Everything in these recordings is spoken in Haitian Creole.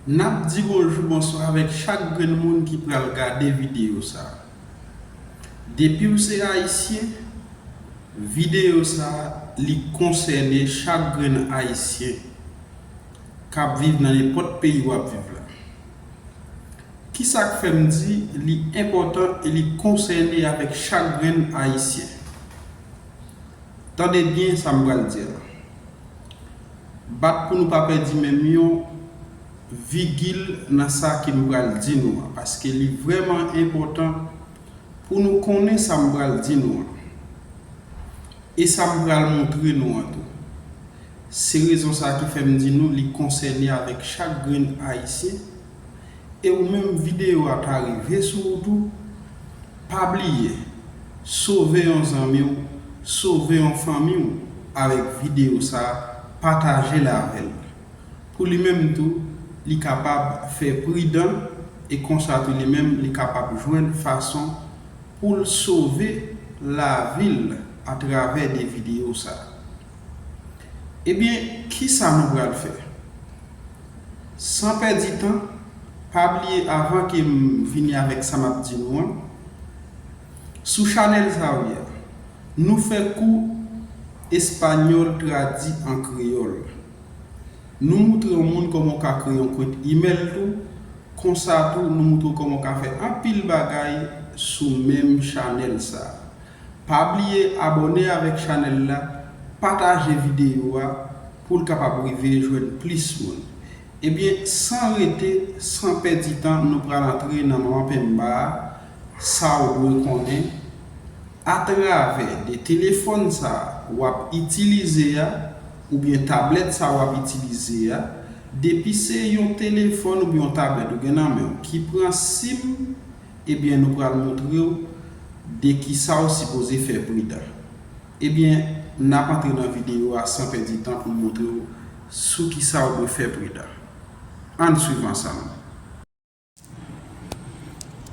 Nap di bonjou bonswa avèk chak grenn moun ki pral gade videyo sa depiw se ayisyen videyo sa li konsène chak grenn ayisyen kap viv nan nenpòt peyi wap viv la kisak fèm di li enpòtan e li konsène avèk chak grenn ayisyen tande byen sam pral di la Bat pou nou pa pèdi menm yon vigil nan sa ke m pral di nou an, paske li vrèman enpòtan pou nou konnen sa m pral di nou an, e sa m pral montre nou an tou. Se rezon sa ki fè m di nou li konsène avèk chak grenn Ayisyen, e ou menm videyo a ta rive sou ou tou, Pa bliye sove yon zanmi w sove yon fanmi w avèk videyo sa patajel avèl pou li menm tou li kapab fè pridan e konsa tou li menm li kapab jwenn fason poul sove lavil atravè de videyo sa. Ebyen, kisa nou pral fè? San pèdi tan, pa bliye avan ke m fini avèk sa m ap di nou an, sou chanèl sa w ye a, nou fè kou espanyòl tradi an kreyòl. Nou moutre yon moun kòman w ka kreye yon kont imèl tou, konsa tou nou moutre w kòman w ka fè anpil bagay sou menm chanèl sa a. Pa bliye abòne avèk chanèl la, pataje videyo a pou l kapab rive jwenn plis moun. Ebyen san rete san pèdi tan nou pral antre nan Manman Penmba a sa w dwe konnen atravè de telefòn sa w ap itilize a oubyen tablèt sa w ap itilize a depi se yon telefòn oubyen yon tablèt ou gen nan men w ki pran sim Ebyen nou pral moutrew de kisaw sipoze fè pridan. Ebyen nap antre nan video a san pèdi tan poun moutrew sou kisaw dwe fè pridan. Ann swiv ansanm.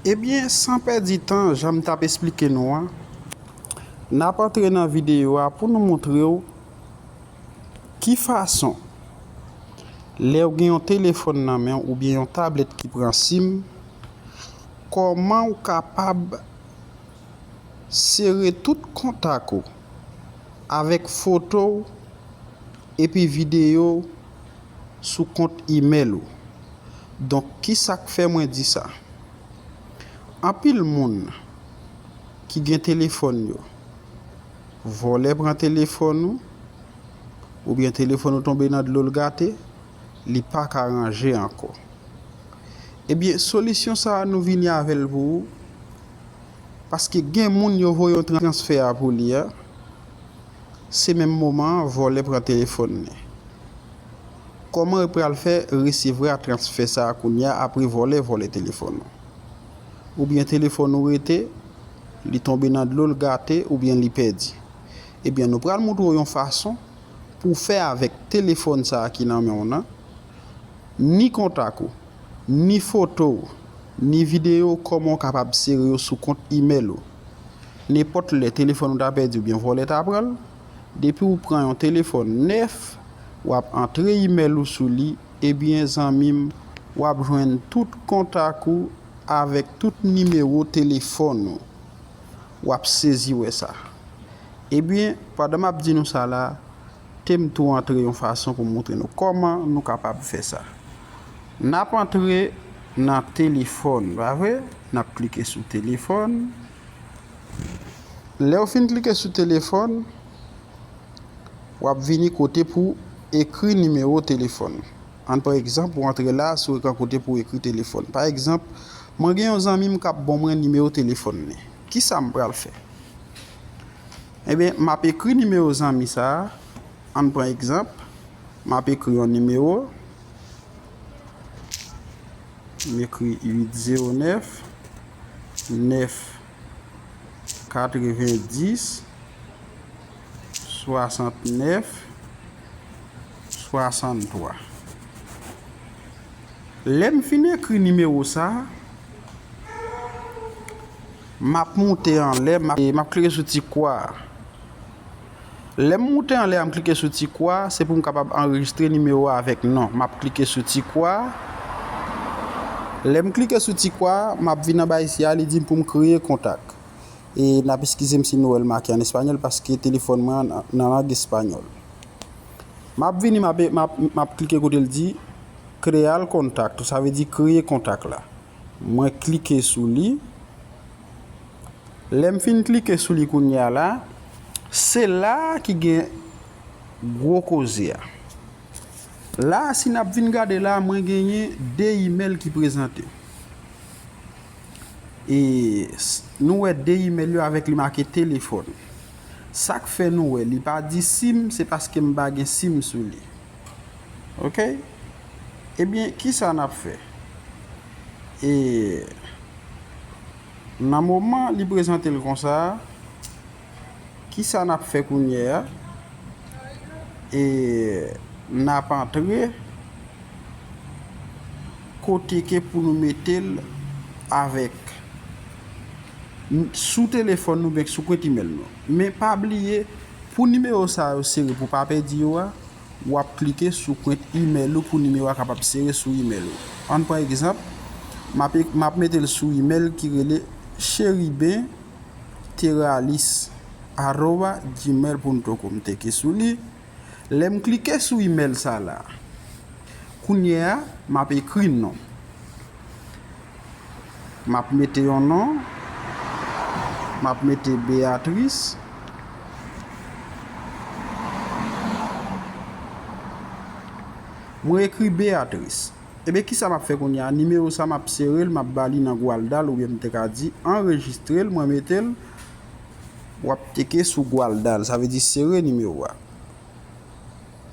Ebyen san pèdi tan janm tap esplike nou an nap antre nan video a pou nou moutrew. Ki fason? Lè ou gen yon telefòn nan men w oubyen yon tablèt ki pran sim, kòman ou kapab sere tout kontak ou avèk foto w epi videyo w sou kont imèl ou. Donk ki sa k fè mwen di sa? Anpil moun ki gen telefòn yo. Vòlè pran telefòn ou, oubyen telefòn ou tonbe nan dlo l gate, li pa ka ranje ankò. Ebyen solisyon sa a nou vini avè l pou ou, paske gen moun yo voye yon transfè a pou li a, se menm moman an vòlè pran telefòn li. Kòman ou pral fè resevra transfè sa a kounya apre vòlè vòlè telefòn ou? oubyen telefòn ou rete, li tonbe nan dlo, l gate oubyen li pèdi. Ebyen nou pral moutre w yon fason pou w fè avèk telefòn sa ki nan men w nan, ni kontak ou, ni foto w, ni videyo kòman w kapab sere yo sou kont imèl ou. Nenpòt lè telefòn ou ta pèdi oubyen vòlè ta pran l, depi w pran yon telefòn nèf, w ap antre imèl ou sou li, Ebyen zanmim wap jwenn tout kontak ou avèk tout nimewo telefòn ou wap sezi wè sa ebyen pandan map di nou sa la tem tou antre yon fason pou moutre nou kòman nou kapab fè sa nap antre nan telefòn pa vre nap klike sou telefòn lèw fin klike sou telefòn. w ap vini kote pou w ekri nimewo telefòn. Ann pran egzanp, ou antre la a sou ekran kote pou w ekri telefòn. Pa egzanp, Mwen gen yon zanmi m k ap bon mwen nimewo telefòn li. Ki sa m pral fè? Enben, m ap ekri nimewo zanmi sa a. Ann pran egzanp, M ap ekri yon nimewo. M ekri 809 9. 90 69 63 Lè m fin ekri nimewo sa a, m ap moute anlè, m ap klike sou ti kwa a. Lè m moute anlè a m klike sou ti kwa a, se pou m kapab anrejistre nimewo a avèk non. M ap klike sou ti kwa a. Lè m klike sou ti kwa a, m ap vin anba isi a, li di m pou m kreye kontak. E n ap eskize m si nou wè l make an espanyòl paske telefòn mwen an nan lang espanyòl. M ap vini, m ap klike kote l di Crear contacto, sa vle di kreye kontak la. Mwen klike sou li. Lè m fin klike sou li kounye a la, se la ki gen gwo koze a. La a si n ap vin gade la a mwen genyen 2 imèl ki prezante. E nou wè 2 imèl yo avèk li make telefòn. Sa k fè nou wè li pa di sim se paske m pa gen sim sou li. ok ebyen kisa nap fè e nan moman li prezantel konsa kisa nap fè kounyè a e nap antre kote ke pou nou metel avèk sou telefòn nou oubyen sou kont imèl nou men pa bliye pou nimewo sa yo sere pou pa pèdi yo a. Ou ap klike sou kwent imèl ou pou nimewo a kapab sere sou imèl ou. Ann pran egzanp, m ap m ap mete l sou imèl ki rele cheriben teralis aroba gmail punto com. M teke sou li. Lè m klike sou imèl sa la, kounye a, m ap ekri non. Map mete yon non, map mete Beatrice. Mwen ekri Beatrice. Ebyen kisa map fè kounye a, nimewo sa map serel, map bali nan Gwalda l oubyen m te ka di anrejistre l, mwen mete l, wap teke sou Gwalda l, sa vle di sere nimewo a.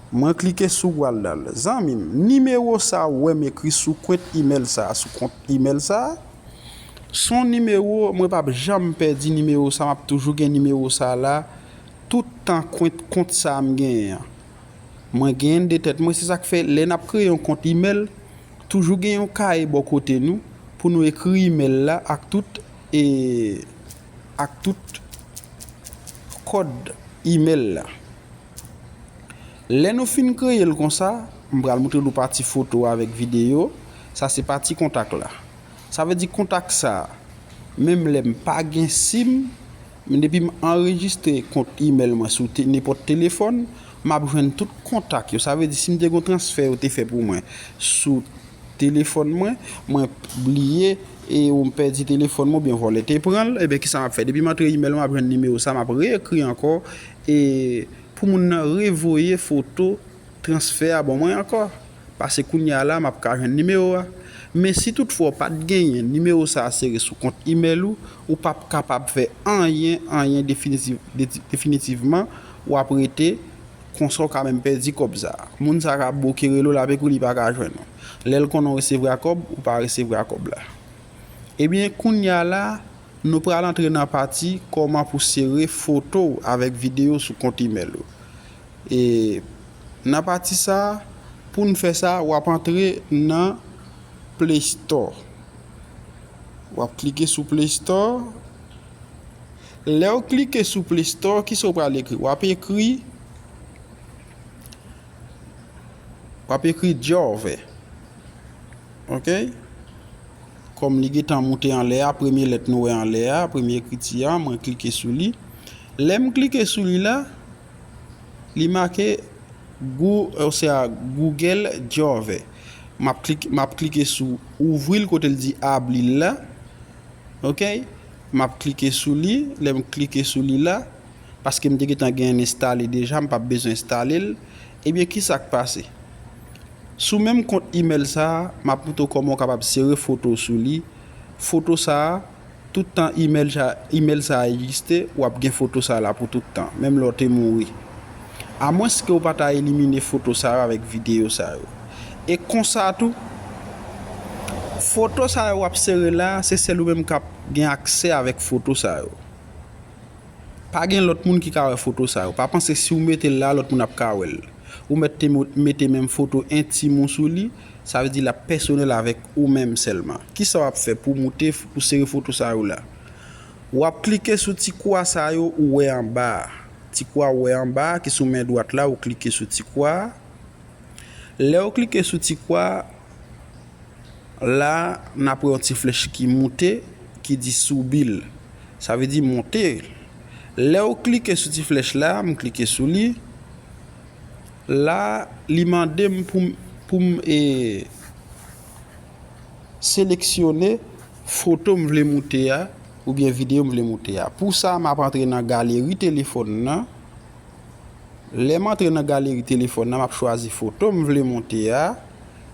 Mwen klike sou pral dal. Zanmim, nimewo sa ou wèm ekri sou kwent imèl sa, sou kont imèl sa, son nimewo mwen pap janm pèdi nimewo sa map toujou gen nimewo sa la tout tan kwent kont sa m genyen an mwen genyenn de tèt mwen se sak fè lè nap kreye yon kont imèl toujou gen yon kaye bò kote nou pou nou ekri imèl la ak tout e ak tout kòd imèl la. Lè nou fin kreye l konsa, m pral moutre nou pati foto avèk videyo, sa se pati kontak la. Sa vle di kontak sa, menm lè m pa gen sim, men depi m anrejistre kont imèl mwen sou nenpòt telefòn, m ap jwenn tout kontak yo. Sa vle di si m te gen yon transfè yo te fè pou mwen sou telefòn mwen, mwen bliye e ou m pèdi telefòn mwen oubyen vòlè te pran l, eben kisa m ap fè? Depi m antre imèl mwen m ap jwenn nimewo sa, m ap reekri ankò E pou moun nan revoye foto transfè a ban mwen ankò, pase kounya la map ka jwenn nimewo a. Men si tout fwa w pat genyen nimewo sa sere sou kont imèl ou, ou pap kapab fè anyen anyen definitivman wap rete konsa w ka menm pèdi kòb sa. Moun sa ka bouke rele w la pe kou li pa ka jwenn ou. Lèl konnen w resevra kòb, ou pa resevra kòb la. Ebyen kounya la. Nou pral antre nan pati kòman pou sere foto w avèk videyo sou kont imèl ou. E nan pati sa, pou n fè sa, w ap antre nan Play Store. W ap klike sou Play Store. Lè w klike sou Play Store, ki sa w pral ekri? W ap ekri, w ap ekri Jove. Ok. Kòm li gentan moute anlè a, premye lèt nou wè anlè a, premye ekriti a, mwen klike sou li. Lè m klike sou li la, li make gou, osea Google Jove. M ap klike, m ap klike sou ouvri l kote l di abli l la. Ok. M ap klike sou li. Lè m klike sou li la. paske m te gentan gen yn enstale deja m pap bezwen enstale l ebyen kisak pase sou menm kont email sa map montre w kòman w kapab sere foto sou li foto sa tout tan email sa egziste wap gen foto sa la pou tout tan menm lè w te mouri a mwens ke w pa ta elimine foto sa yo avèk videyo sa yo e konsa tou foto sa yo wap sere la se sèl ou menm kap gen aksè avèk foto sa yo. Pa gen lòt moun ki ka wè foto sa yo. Pa panse si w mete l la, lòt moun ap ka wè l. Ou mèt te mete menm foto entim ou sou li, sa vle di l ap pèsonèl avèk ou menm sèlman. Kisa w ap fè pou w moute, pou w sere foto sa yo la? W ap klike sou ti kwa sa yo ou wè anba a. Ti kwa ou wè anba a ki sou men dwat la ou klike sou ti kwa a. Lè ou klike sou ti kwa a. La, n ap wè yon ti flèch ki moute, ki di Subil. Sa vle di monte. Lè ou klike sou ti flèch la, m klike sou li. La, li mande m pou m seleksyone foto m vle moute a, oubyen videyo m vle moute a. Pou sa, m ap antre nan galeri telefòn nan. Lè m antre nan galeri telefòn nan, m ap chwazi foto m vle moute a.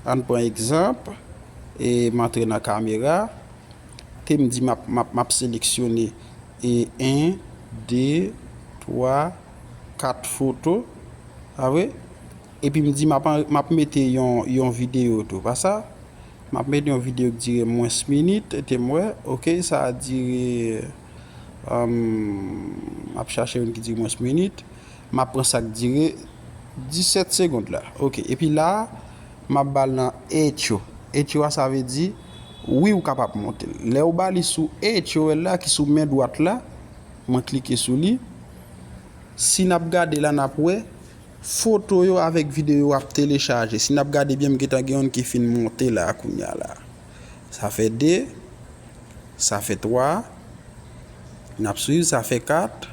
Ann pran egzanp, e m antre nan kamera, ke m di m ap, m ap, m ap seleksyone e 1, 2, 3, 4 foto, pa vre? Epi m di m ap, m ap mete yon, yon videyo tou, pa sa? M ap mete yon videyo ki dire mwens minit, ete m wè, ok, sa a dire, m ap chache youn ki dire mwens minit. M ap pran sa k dire 17 segond la. Ok. Epi la a, m ap ba l nan Echo. Echo a sa vle di, wi ou kapab monte l. Lè ou ba li sou Echo el la ki sou men dwat la, mwen klike sou li. Si n ap gade la n ap wè, foto yo avèk videyo yo ap telechaje. Si n ap gade byen m gentan gen youn ki fin monte la a kounye a la a. Sa fè 2, sa fè 3, n ap swiv sa fè 4.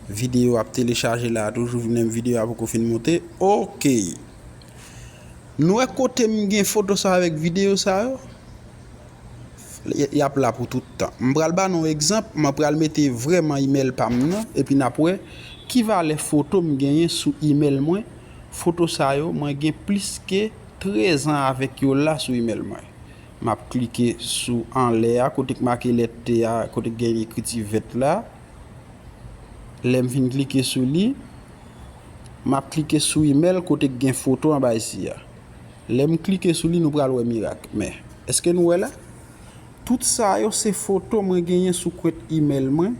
Video ap telechaje la toujou vnem video a poko fin monte ok Nou wè kotem gen foto sa avèk video sa yo Yap la pou tout tan M pral ba nou egzanp mwen pral mete vrèman email pam nan epi nap wè ki valè foto m genyen sou email mwen foto sa yo mwen gen plis ke 13 an avèk yo la sou email mwen Map klike sou anlè a kote k make lèt t a kote k gen ekriti vèt la. Lèm fin klike sou li, map klike sou email kote ki gen foto anba isi a. Lèm klike sou li nou pral wè mirak. Men, eske nou wè la? Tout sa yo se foto mwen genyen sou kwent email mwen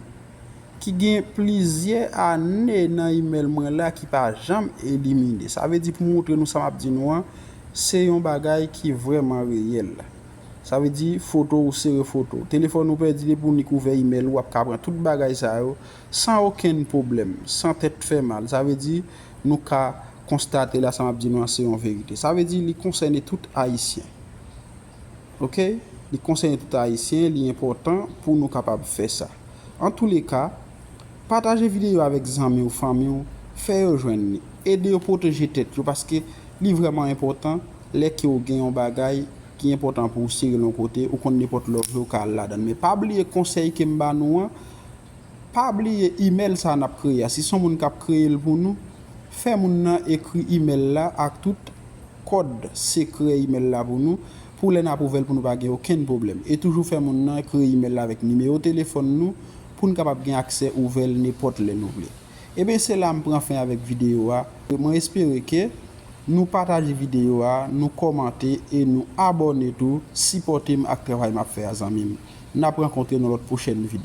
ki gen plizyè ane nan email mwen la ki pa janm elimine. Sa vle di pou montre nou sa map di nou an se yon bagay ki vreman reyèl. Sa vle di foto ou sere foto w. Telefòn ou pèdi depi w nik ouvè imèl ou wap ka pran tout bagay sa yo san okenn pwoblèm, san tèt fè mal. Sa vle di nou ka konstate la sa map di nou an se yon verite. Sa vle di li konsène tout ayisyen. Ok li konsène tout ayisyen li enpòtan pou nou kapab fè sa. Antouleka Pataje videyo a avèk zanmi w, fanmi w, fè yo jwenn li. Ede yo pwoteje tèt yo paske li vrèman enpòtan lè ke w gen yon bagay ki enpòtan pou w sere l yon kote, ou konn nenpòt lè w vle w ka al ladan l. Men pa bliye konsèy ke m ba nou an, pa bliye imèl sa n ap kreye a, si son moun k ap kreye l pou nou, fè moun nan ekri imèl la ak tout kòd sekrè imèl la pou nou, pou lè n ap ouvè l pou nou pa gen okenn pwoblèm. E toujou fè moun nan kreye imèl la avèk nimewo telefòn nou, poun kapab gen aksè ouvèl nepòt lè nou vle. Ebyen se la m pran fen avèk videyo a, mwen espere ke nou pataje videyo a, nou kòmante e nou abòne tou, sipòte m ak travay map fè a zanmi m. Nap rankontre nan lòt pwochèn videyo.